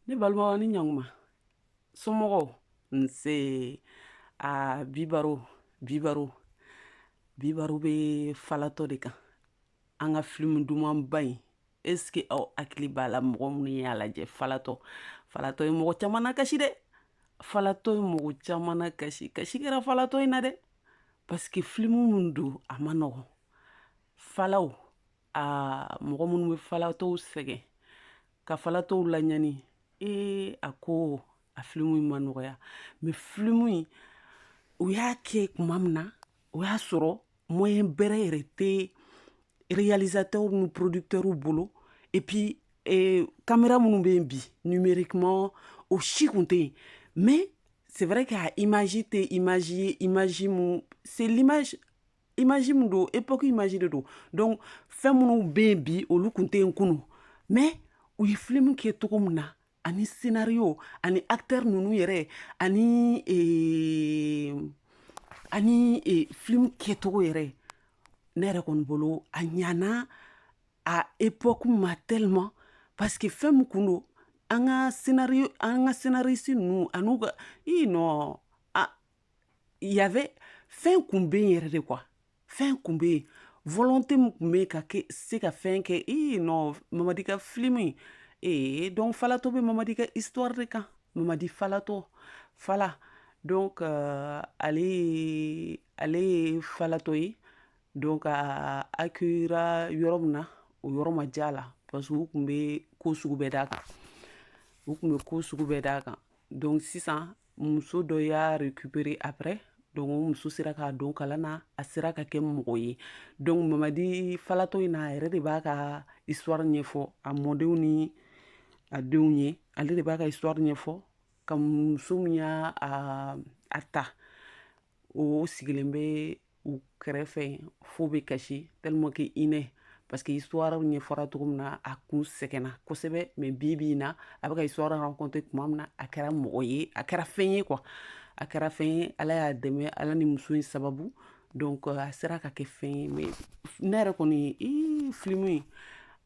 ne balimaw ni ɲakuma somɔgɔw nse a bi baro bi baro bi baro bɛ falatɔ de kan an ka filimu dumanba in est-ce que aw hakili b'a la mɔgɔ minnu y'a lajɛ falatɔ falatɔ ye mɔgɔ caman nakasi dɛ falatɔ ye mɔgɔ caman nakasi kasi kɛra falatɔ in na dɛ parce que filimu min don a ma nɔgɔn falaw aa mɔgɔ minnu bɛ falatɔw sɛgɛn ka falatɔw laɲani ee a ko a filimu in ma nɔgɔya mais filimu in u y'a kɛ tuma min na o y'a sɔrɔ moyen bɛrɛ yɛrɛ tɛ réalisateurs ni producteurs bolo et puis eh, caméra minnu bɛ yen bi numériquement o si kun tɛ yen mais c'est vrai que a image tɛ image ye image mun c'est l'image image min don époque image de don donc fɛn minnu bɛ yen bi olu kun tɛ yen kunu mais u ye film kɛ cogo min na ani scénario ani acteur ninnu yɛrɛ ani ee, ani ee, film kɛcogo yɛrɛ ne yɛrɛ kɔni bolo a ɲana a époque ma tellement parce que fɛn min kun don an ka scénario an ka scénariste ninnu an'u ka i nɔ il y avait fɛn kun bɛ yen yɛrɛ de quoi fɛn kun bɛ yen volonté min kun bɛ yen ka kɛ se ka fɛn kɛ ee non mamadi ka film ee eh, donc falatɔ bɛ mamadi ka histoire de kan mamadi falatɔ fala donc euh, ale ye ale ye falatɔ ye donc a accueillera yɔrɔ min na o yɔrɔ ma diya a la parce que u kun bɛ ko sugu bɛɛ d'a kan u kun bɛ ko sugu bɛɛ d'a kan donc sisan muso dɔ y'a récupérer après donc o muso sera k'a don kalan na a sera ka kɛ mɔgɔ ye donc mamadi falatɔ in na a yɛrɛ de b'a ka histoire ɲɛfɔ a mɔdenw ni a denw ye ale de b'a ka histoire ɲɛfɔ ka muso min y'a a ta o sigilen bɛ u kɛrɛfɛ fo bɛ kasi tellement que hinɛ parce que histoire ɲɛfɔra cogo min na a kun sɛgɛnna kosɛbɛ mais bi bi in na a bɛ ka histoire conter tuma min na a kɛra mɔgɔ ye a kɛra fɛn ye quoi a kɛra fɛn ye ala y'a dɛmɛ ala ni muso in sababu donc a sera ka kɛ fɛn ye mais ne yɛrɛ kɔni ye filimu ye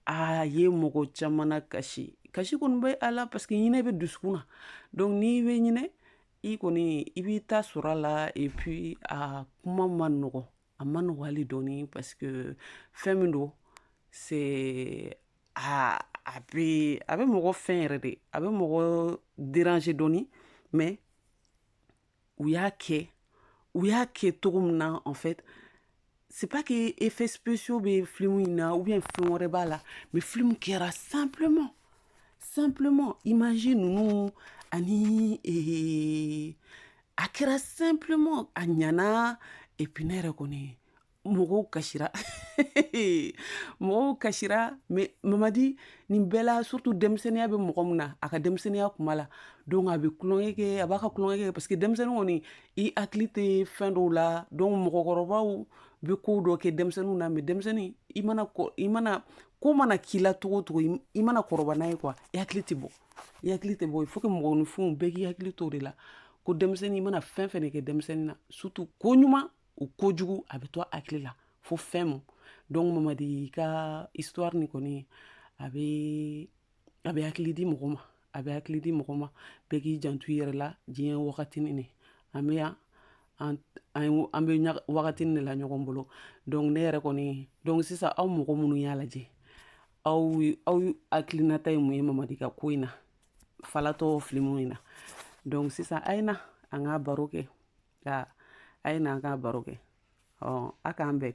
a ye mɔgɔ caman kasi kasi kɔni bɛ a la parce que hinɛ bɛ dusukun na donc n'i bɛ hinɛ i kɔni i b'i ta sɔrɔ a la et puis a kuma ma nɔgɔ a ma nɔgɔ hali dɔɔni parce que fɛn min don c'est a a bɛ a bɛ mɔgɔ fɛn yɛrɛ de a bɛ mɔgɔ déranger dɔɔni mais u y'a kɛ u y'a kɛ cogo min na en fait c'est pas que effets spéciaux bɛ film in na ou bien film wɛrɛ b'a la mais film kɛra simplement simplement imagine nous ani eh, a kɛra simplement a ɲana et puis ne yɛrɛ kɔni mɔgɔw kasira mɔgɔw kasira mais mamadi nin bɛɛ la surtout denmisɛnninya bɛ mɔgɔ min na a ka denmisɛnninya kuma la donc a bɛ tulonkɛ kɛ a b'a ka tulonkɛ kɛ parce que denmisɛnnin kɔni i hakili tɛ fɛn dɔw la donc mɔgɔkɔrɔbaw bɛ ko dɔ kɛ denmisɛnninw na mais denmisɛnnin i mana i mana ko mana k'i la cogo cogo i mana kɔrɔba n'a ye quoi i hakili tɛ bɔ i hakili tɛ bɔ il faut que mɔgɔninfinw bɛɛ k'i hakili to de la ko denmisɛnnin i mana fɛn fɛn de kɛ denmisɛnnin na surtout ko ɲuman ou ko jugu a bɛ to hakili la fo fɛn mun donc mamadi i ka histoire nin kɔni a bɛ a bɛ hakili di mɔgɔ ma a bɛ hakili di mɔgɔ ma bɛɛ k'i janto yɛrɛ la diɲɛ wagatinin an bɛ yan an an bɛ wagati de la ɲɔgɔn bolo donc ne yɛrɛ kɔni donc sisan aw mɔgɔ minnu y'a lajɛ aw aw hakilinata ye mun ye mamadi ka ko in na falatɔ film in na donc sisan a ye na an ka baro kɛ a ye na an ka baro kɛ ɔ a k'an bɛn